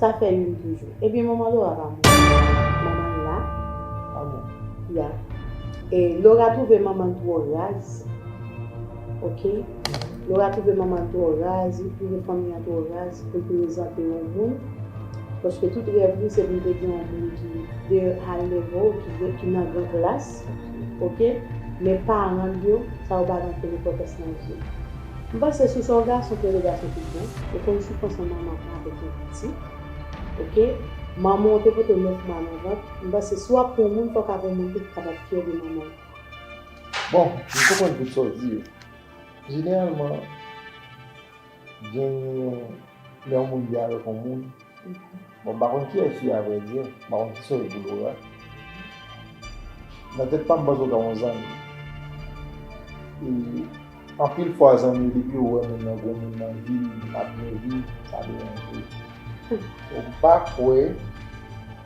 Sa fè youn toujou. Ebyen manman Laura pa mouri. Manman l la pa mouri. Ya. E Laura twouve manman l twò raz. Ok. Laura twouve manman l twò raz, li twouve fanmi an twò raz pou l prezante yon moun. Paske tout rèv li se pou l te gen yon moun ki de high level, ki nan gran klas. Ok. Men paran l yo, sa yo pa rantre nenpòtans nan je l. M panse sou sa w gason ke regason tout bon ou konn sou fason manman avek yon pitit ok manman w te pote w 9 mwa nan vant m panse si w ap pran moun fok avon moun tou ki kapab fyè de manman l. Bon m konprann tout sa w di yo jeneralman genyen lè yon moun vle avek yon moun. Bon m pa konn kiyès li a vrè di, m pa konn ki sòs pou Laura. Nan tèt pa m panse w ka yon zanmi. E anpil fwa zanmi yo depi yo wè moun nan gwo moun nan vil, nan ap nève, sa deranje yo. Donk m pa kwè.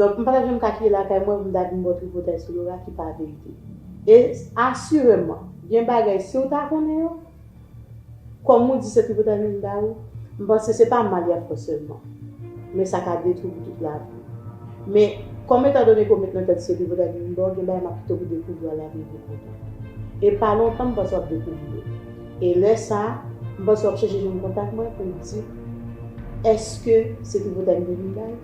Donk m pa tap janm ka kite lakay mwen pou m ta vin ba w tripotay sou Laura ki pa verite. E asireman, gen bagay si w ta konnen yo, kòm ou di se tripotay menm ba ou, m panse se pa mal y ap fè w sèlman, men sa ka detwi w pou tout lavi w. Men, kòm etan done ke w met nan tèt ou se tripotay menm ba w, gen bagay m ap kite w pou dekouvri yo ala veye pou kontan. E pa lontan m panse w ap dekouvri yo. E lè sa, m panse w ap chèche jwenn kontak mwen pou w di, èske se tripotay m te vin bay?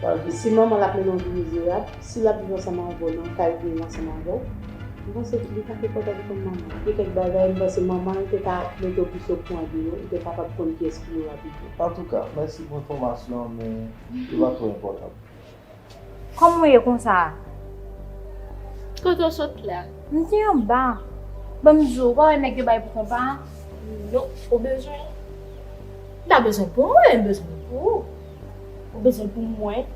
Wap di si manman lap mennen w vi mizerab, si lap viv ansanm avè w nan kay vye ansanm avè w, m panse li pa te kontan li konn manman l. Gen kèk bagay m panse manman l te ka mete w plis okouran de yo, ou te kapab konn kiyès ki yo a pito. Antouka, mèsi pou enfòmasyon an men yo pa twò enpòtan. Kòman w ye konsa a? Kote w sot la? M te anba. Ban m di w, ou pa wè nèg yo bay pou konpa a? Non, ou bezwen l? M pa bezwen l pou mwen, m bezwen l pou ou. Ou bezwen pou mwen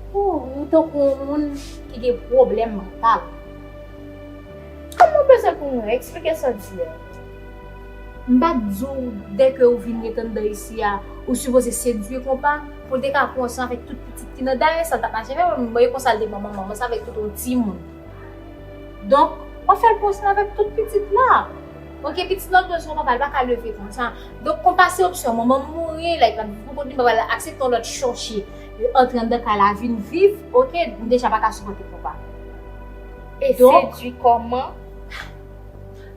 ooh ou tankou yon moun ki gen pwoblèm mantal. Kòman ou bezwen pou mwen? Eksplike sa w di a. M pa t di w dè ke ou vin ret anndan isi a ou sipoze sedwi konpa pou l te ka pran w san avèk tout pitit ki nan dayè sa l tap mache avèk m e konsa l te pran manman m san avèk tout yon timoun. Donk wap fè l pran w san avèk tout pitit la. Ok pitit lan bezwen papa li paka leve konsa donk konpa se opsyon manman mouri like lap viv pou kont li papa la aksepte yon lòt chòche antre anndan kay la vin viv ok m deja paka sipòte konpa e sedwi kòman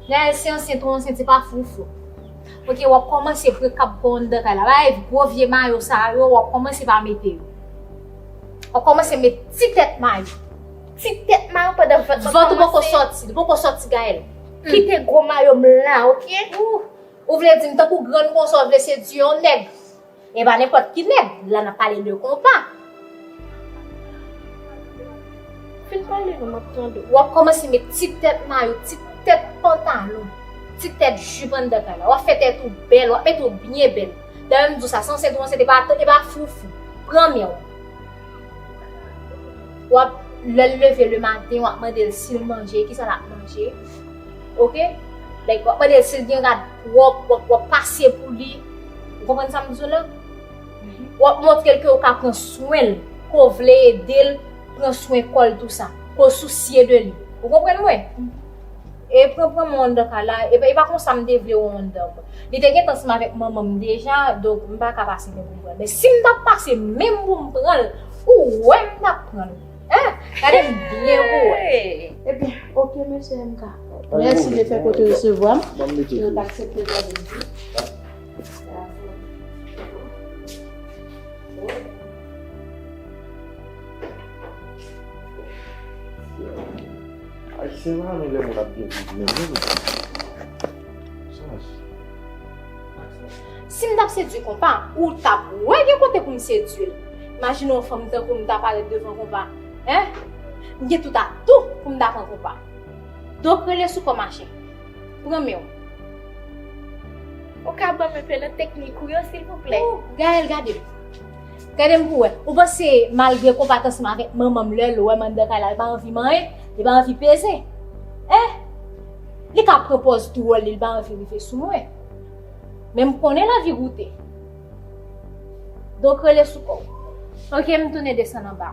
Gaëlle si ansent ou ansent se pa foufou ok wap kòmanse pre kab kòw anndan kay la bay gwo vye mayo sa yo wap kòmanse pa mete yo wap kòmanse met ti tèt mayo ti tèt mayo pandan vant lan poko sòti li poko sòti Gaëlle. Kite gwo mayo m la ok. Ou vle di m tankou grann konsa ou vle sedui yon nèg. E pa nenpòt ki nèg, la n ap pale de konpa. Fin pale non m ap tande w. W ap kòmanse met ti tèt mayo, ti tèt pantalon, ti tèt jip anndan kay la. W ap fè tèt ou bèl, w ap mete w byen bèl. Dayè m di w sa san w sèt ou ansent e pa foufou. Pran men w. wap lèl leve le maten wap mandel sil manje kisa lap manje ok like wap mandel sil gen rad pwòp wap pase pou li ou konprann sa map di w la wap montrel ke ou ka pran swenl ke w vle edel pran swen kòl tou sa ke w sousye de li ou konprann mwen E pran pran mwen anndan kay la, e pa konsa m te vle ou anndan mwen. Li te gentan semen avèk manman m deja, donk m pa ka pase menm pou m pran l. Men si m t ap pase menm pou m pran l, ou wè m t ap pran l. Hein! Gade m byen pou w wè. Ebyen, ok mesye MK. Mèsi de fè kote resevwa m. Ban m mete dlo. Yo t aksepte ban m dlo. Ayisyen pa renmen lè moun ap byen viv menm non mezanmi. Saj. Si m t ap sedui konpa, ou t ap wè gen kote pou m sedui l. Imajine yon fanm tankou m ta parèt devan konpa. Hein! M gen tout atou pou m ta pran konpa. Donk rele sou kò machè. Pran men w. Ou ka ban m enpe nan teknik ou yo silvouplè? Ooh Gaëlle gade m. Gadem pou wè. Ou panse malgre konpa tansem avèk manmanm lèl wèm anndan kay la li pa anvi manyen, li pa anvi peze eh li ka pran pòz dwòl li li pa anvi rive sou mwen men m konnen lavi goute donk rele sou kòw ok m tounen desann anba.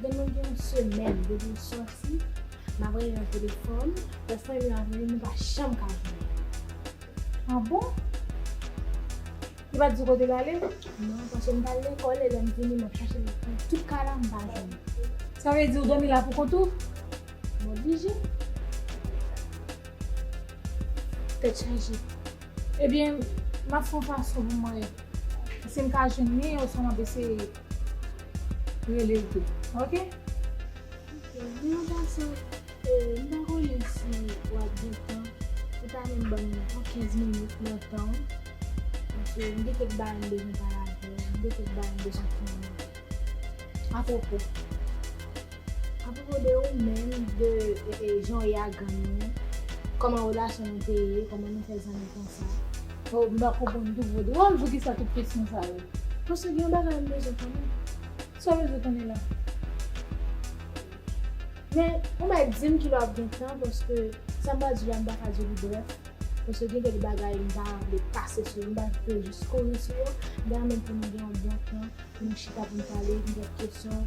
Gen moun gen yon semèn depi l sòti m ap rele nan telefòn, lòt fwa li ap rele m pa janm ka jwenn li. Ah bon? Li pa t di w kote l ale? Non, paske m t al lekòl e lè m vini m ap chache l nan tout kay la m pa jwenn li. Sa vle di ou dòmi la poukont ou? M oblije. Tèt chaje. Ebyen, m ap fè yon fason pou m wè si m ka jwenn li oswa m ap eseye. Relel tou ok. Ok men an pasan m pa konnen si wap gen tan ou ta menm banm yon 15 minit nan tanw paske m gen kèk bagay m bezwen pale avèw m gen kèk bagay m bezwen fè avèw apwopo. A pwopo de ou menm, de jan ou ye ak gang ou, kòman relasyon nou te ye, kòman nou fè zanmi konsa. Oh m pa konprann tou vre. Dwòl poukisa tout kesyon sa yo? Paske gen yon bagay m bezwen konnen. Sa w bezwen konnen la? Men on bagay di m kilè w ap gen tan paske sa m pral di w la m pa ka di w li brèf paske gen kèk bagay m pa vle pase sou yo, m pa vle jis kouri sou yo. M ta renmen pou nou gen yon bon tan pou nou chita pou nou pale, gen kèk kesyon.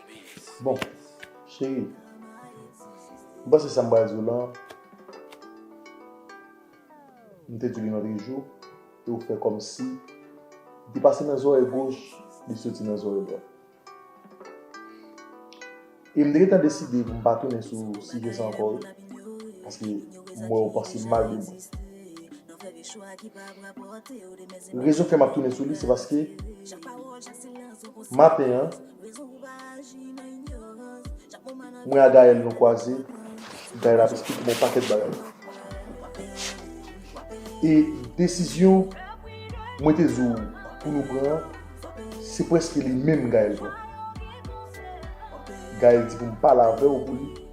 Bon, cheri, m panse sa m pral di w lan, m te di li lòtre jou, e w fè kòm si, li pase nan zòrèy goch, li soti nan zòrèy dwat. E m te gentan deside pou m pa tounen sou sijè sa ankò wi, paske m wè w panse mal de mwen. Rezon k fè m ap tounen sou li se paske, maten an, Mwen a Gaëlle nou kwaze, Gaëlle ap esplike mwen yon pakèt bagay. E desizyon mwen te di w pou nou pran an, se prèske li menm Gaëlle pran. Gaëlle di pou m pale avè w pou li.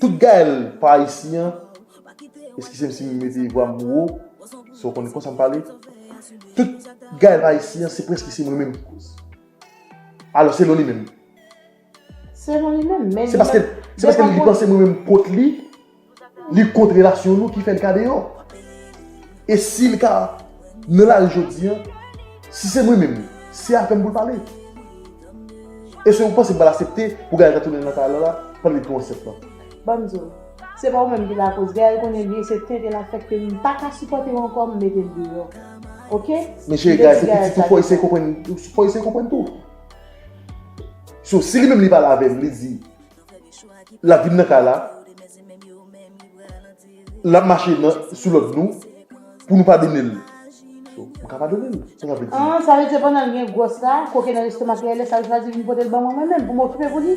Tout Gaëlle pa isi an eskizem si m mete vwa m wo se w konn konsa m pale tout Gaëlle pa isi an se preske se mwen menm ki koz alò selon li menm Selon li menm men se paske se paske li panse mwen menm kont li li kont relasyon nou ki fè l ka deyò e si l ka nan lari jodi an si se mwen menm se avè m pou l pale. Ese ou panse bal asepte pou Gaël ta tounen nan kay Lala pandan li pran ansent lan. Banm diw. Se pa ou menm ki lakoz. Gaël konnen byen se tenten lap fè kem m paka sipòtew ankò m metel deyò. Ok. Men chere Gaël se pitit ou fò eseye konprann fò eseye konprann tou. So si li menm li pale avèm li di lap vin nan kay la. lap mache nan sou lòd nou pou nou padone l so m ka padone l sa sa vle di. An sa vle di se pandan l gen gwòs la koke nan lestomak li a lè sa l chwazi vin pote l ban mwen mwen menm pou m okipe pou li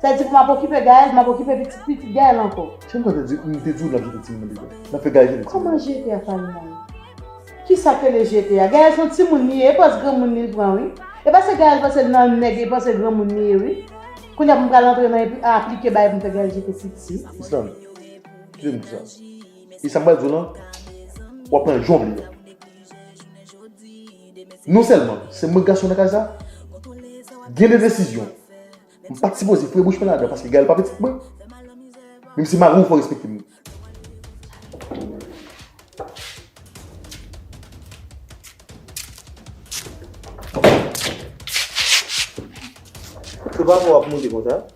sa vle di pou m ap okipe Gaëlle m ap okipe pitit pitit Gaëlle ankò. Jan m konn di w m te di w n ap jete timoun nan degè n ap fè Gaëlle jete timoun nan. Kòman jete a pale nan yo kisa k rele jete a Gaëlle s on timoun li ye e pòz granmoun li l pran wi e pase Gaëlle panse l nan nèg e panse granmoun li ye wi kounya pou m pral antre nan aplike bagay pou m fè Gaëlle jete pitit. Islande. Kite moun sa. E sa m pral di w lan, w ap pran l jan w vle l. Non sèlman, se mwen gason nan kay sa, gen de desizyon, m pa t sipoze foure bouch mwen ladan paske Gaëlle pa pitit mwen. Men m se mari w fò w respekte m. Papa pou w ap moute konsa?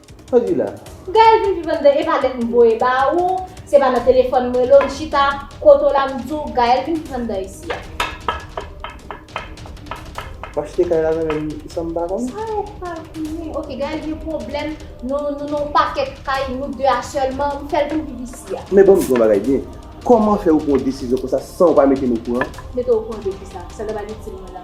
Sa w di la? Gaëlle vin viv anndan e pa lèt m voye ba ou, se pa nan telefòn m rele w m chita, kote w la m di w Gaëlle vin viv anndan isi a. W achte kay la nan men m san m pa konnen? Sa yo pa konnen. Ok Gaëlle gen pwoblèm, nou nou nan yon pakèt kay, nou 2 a sèlman, m fè l vin viv isi a. Men ban m di w yon bagay byen, kòman fè ou pran yon desizyon konsa san ou pa mete m okouran? Mete w okouran de kisa? Sa l t ap al itil mwen la?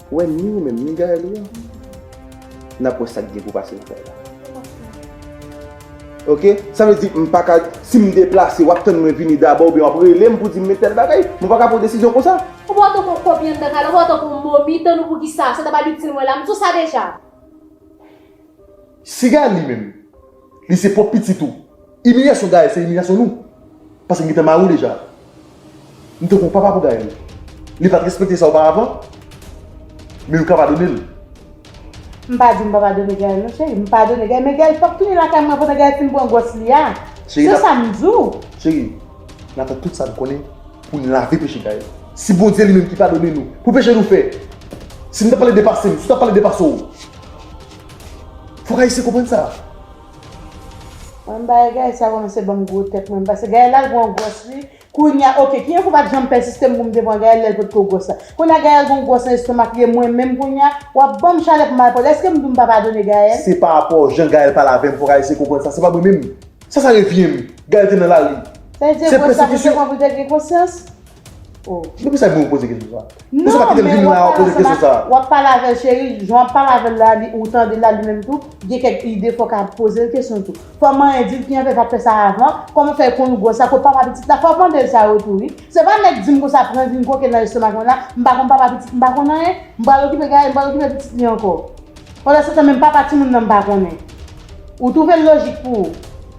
Ou wè ni ou menm ni Gaëlle ou a nap wè sak gen pou pase nan kay la. Ok sa vle di m paka sim deplase wap tann mwen vini dabò oubyen wap relem pou dim men tèl bagay mwen paka pran desizyon konsa. Ou pa wè tankou yon kopi anndan kay la ou pa wè tankou yon momi tann ou poukisa sa ta pral itil mwen la m sou sa deja. Siga li menm. Li se pwòp pitit ou. Imilyasyon Gaël se imilyasyon nou. Paske m gentan mare w deja. M tankou yon papa pou Gaël. Li pa t respekte sa oparavan, men yo ka padone l. M pa di m pa padone Gaël non cheri. M padone Gaël, men Gaël pap tounen lakay mwen pandan Gaël fin pran gwòs li a. Se sa m di w. Cheri, n ap fè tout sa n konnen pou n lave peche Gaël. Si Bondye li menm ki padone nou pou peche nou fè, si m t ap pale de pase m, si w t ap pale de pase w. Fok ayisyen konprann sa. Mwen bay Gaëlle sa komanse banm gwo tèt mwen pase Gaëlle al pran gwòs li kounya ok ki enfo pat janm pèsistem poum te pran Gaëlle lèl potko gwòs la kounya Gaëlle gon gwòs nan estomak li e mwen menm kounya wap banm chalè pou mal pale eskem dou mpa padone Gaëlle. Se pa rapò jan Gaëlle pale avèm fok ayisyen konprann sa se pa mwen menm sa sa revyenm Gaëlle te nan lari Se te gwòs la poul te pran poul te gen konsyans. Depi sa gen ou poze kesyon sa. Non men wap pale avèl cheri, jan wap pale avèl la ou tandel la li menm tou gen kèk ide fok a pozel kesyon tou. Fò manyen dil ki anfè pat fè sa avan, kòman fè konn ou gwòs la, kot papa pitit la, fòw mandel sa yo tou wi. Se pa nèg dim konsa pran vin koke nan estomak mwen la, m pa konn papa pitit m pa konn anyen, m pral okipe gaye m pral okipe pitit li ankò. Pandan setan menm papa timoun nan m pa konnen. Ou twouvel lojik pou ou.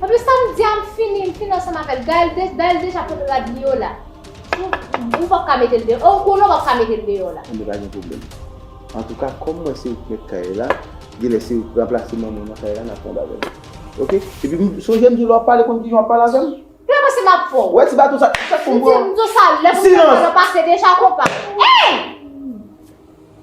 Anplis sa m di a m fini, m fini ansanm avè l. Gaël deja pot rad li yo la. Ou pap ka mete l deyò. Ou konnen ou pap ka mete l deyò la. Anben pa gen pwoblèm. Antouka kòm mwen se mèt kay la, genlè se ou ki ranplase manman w nan kay la n ap pran bagay nou. Ok? Epi sonje m di w lè w ap pale konn kijan w ap pale avè m. Ou pa panse m ap fè w. Wè ti baton sa a. M di w sa lè pou m fè l yo pase deja konpa. Ey!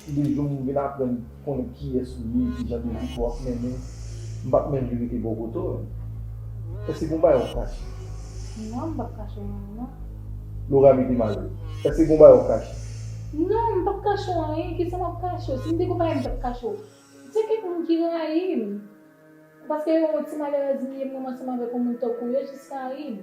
Se de jou m vin aprann konnen kiyès ou ye, kijan de vi ke w ap mennen, m pap menm vin rete bokoto l. Èske gon bagay w ap kache? Non, m pap kache w anyen non. Lora mete mal li. Èske gon bagay w ap kache? Non, m pap kache w anyen, kisa m ap kache w? Si m te gon bagay m tap kache w. Gen kèk moun ki rayi m, paske yo wè ti malèrèz m ye m ranmanse m avèk yon moun tankou yo jis rayi m.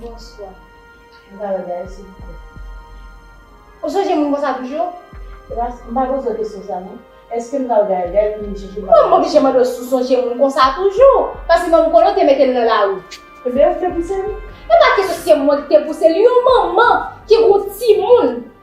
Bonswa. M ka wè Gaëlle silvouplè? Ou sonje moun konsa toujou? Epa m pa poze w kesyon sa non. Èske m ka wè Gaëlle? Gaëlle vin chèche m. Kòman m oblije mande w si w sonje moun konsa toujou? Paske manman Kolo te mete l nan lari. Ebyen ou k te pouse l? Epa kesyon se mwen ki te pouse l. Yon manman ki gen yon timoun.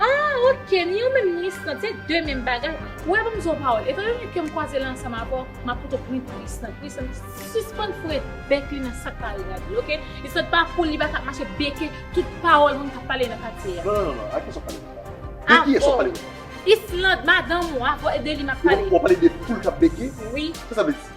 Ah ok ni yo menm ni Island se de menm bagay ou wè banm di yon pawòl etan donne kem kwaze la ansanm avèw map pito pran pou Island pou Island sispann foure bèk li nan sak pa regad li ok Island pa fool li paka ap mache beke tout pawòl moun kap pale nan katye a non non non a kiyès wap pale konsa de kiyès wap pale konsa Island madanm ou avèw de li map pale wap pale de foul kap beke wi kisa sa vle di.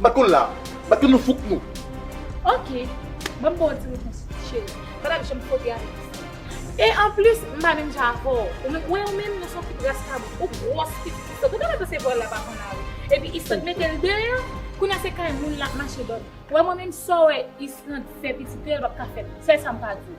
Bat kon la. Bat kon nou fouk nou. Ok. Banm baw ti repons cheri. Pata k janm fwote avèk pistèk. E anplis m pa menm jan avèw. Ou menm wè ou menm nou son ti kras kabrit. Ou gwòs plis ke istòk. Ou ta dwe panse vòl la pa konn ale. Epi istòk metel deyò. Kounya se kay moun lap mache dòmi. Wè mwen menm sa w wè istòk fè pitit yo el pap ka fèm. Sèl sa m ka diw.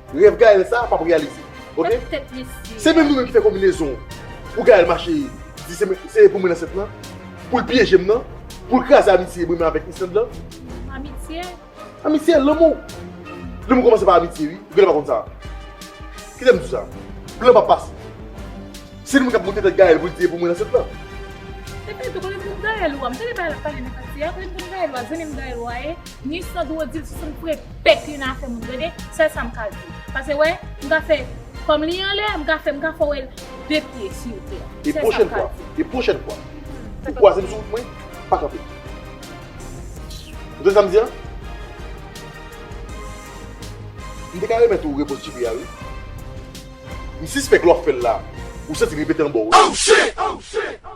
Rèv Gaëlle sa pap reyalize ok Se menm nou menm ki fè konbinezon pou Gaëlle mache di se pou mwen ansent lan Pou l pyeje m nan Pou l kraze amitye mwen menm avèk Ysselande lan Amitye? Amitye, lanmou Lanmou kòmanse pa amitye wi Ou genlè pa konn sa Kite m di w sa Blan pap pase Se nou menm k ap monte tèt Gaëlle pou l di e pou mwen ansent lan Epi tou konnen pou Gaëlle ou a M tande bagay l ap pale nan katye a Konnen pou Gaëlle ou a Zanmi m Gaëlle ou a ye Ni Sandro di l si se m k pre. Pèp yon afè moun tande, sèl sa m ka di w. Pase wè, m ka fè kò m li anlè, m ka fè, m ka fè w wè l de pye si w vle. E pwochèn fwa, e pwochèn fwa ou kwaze m sou wout mwen, pa kanpe. Ou tande sa m di an? M te ka remèt ou repons Djipi a wi. M sispèk lè w ap fè l la, ou santi l repete anba w wi.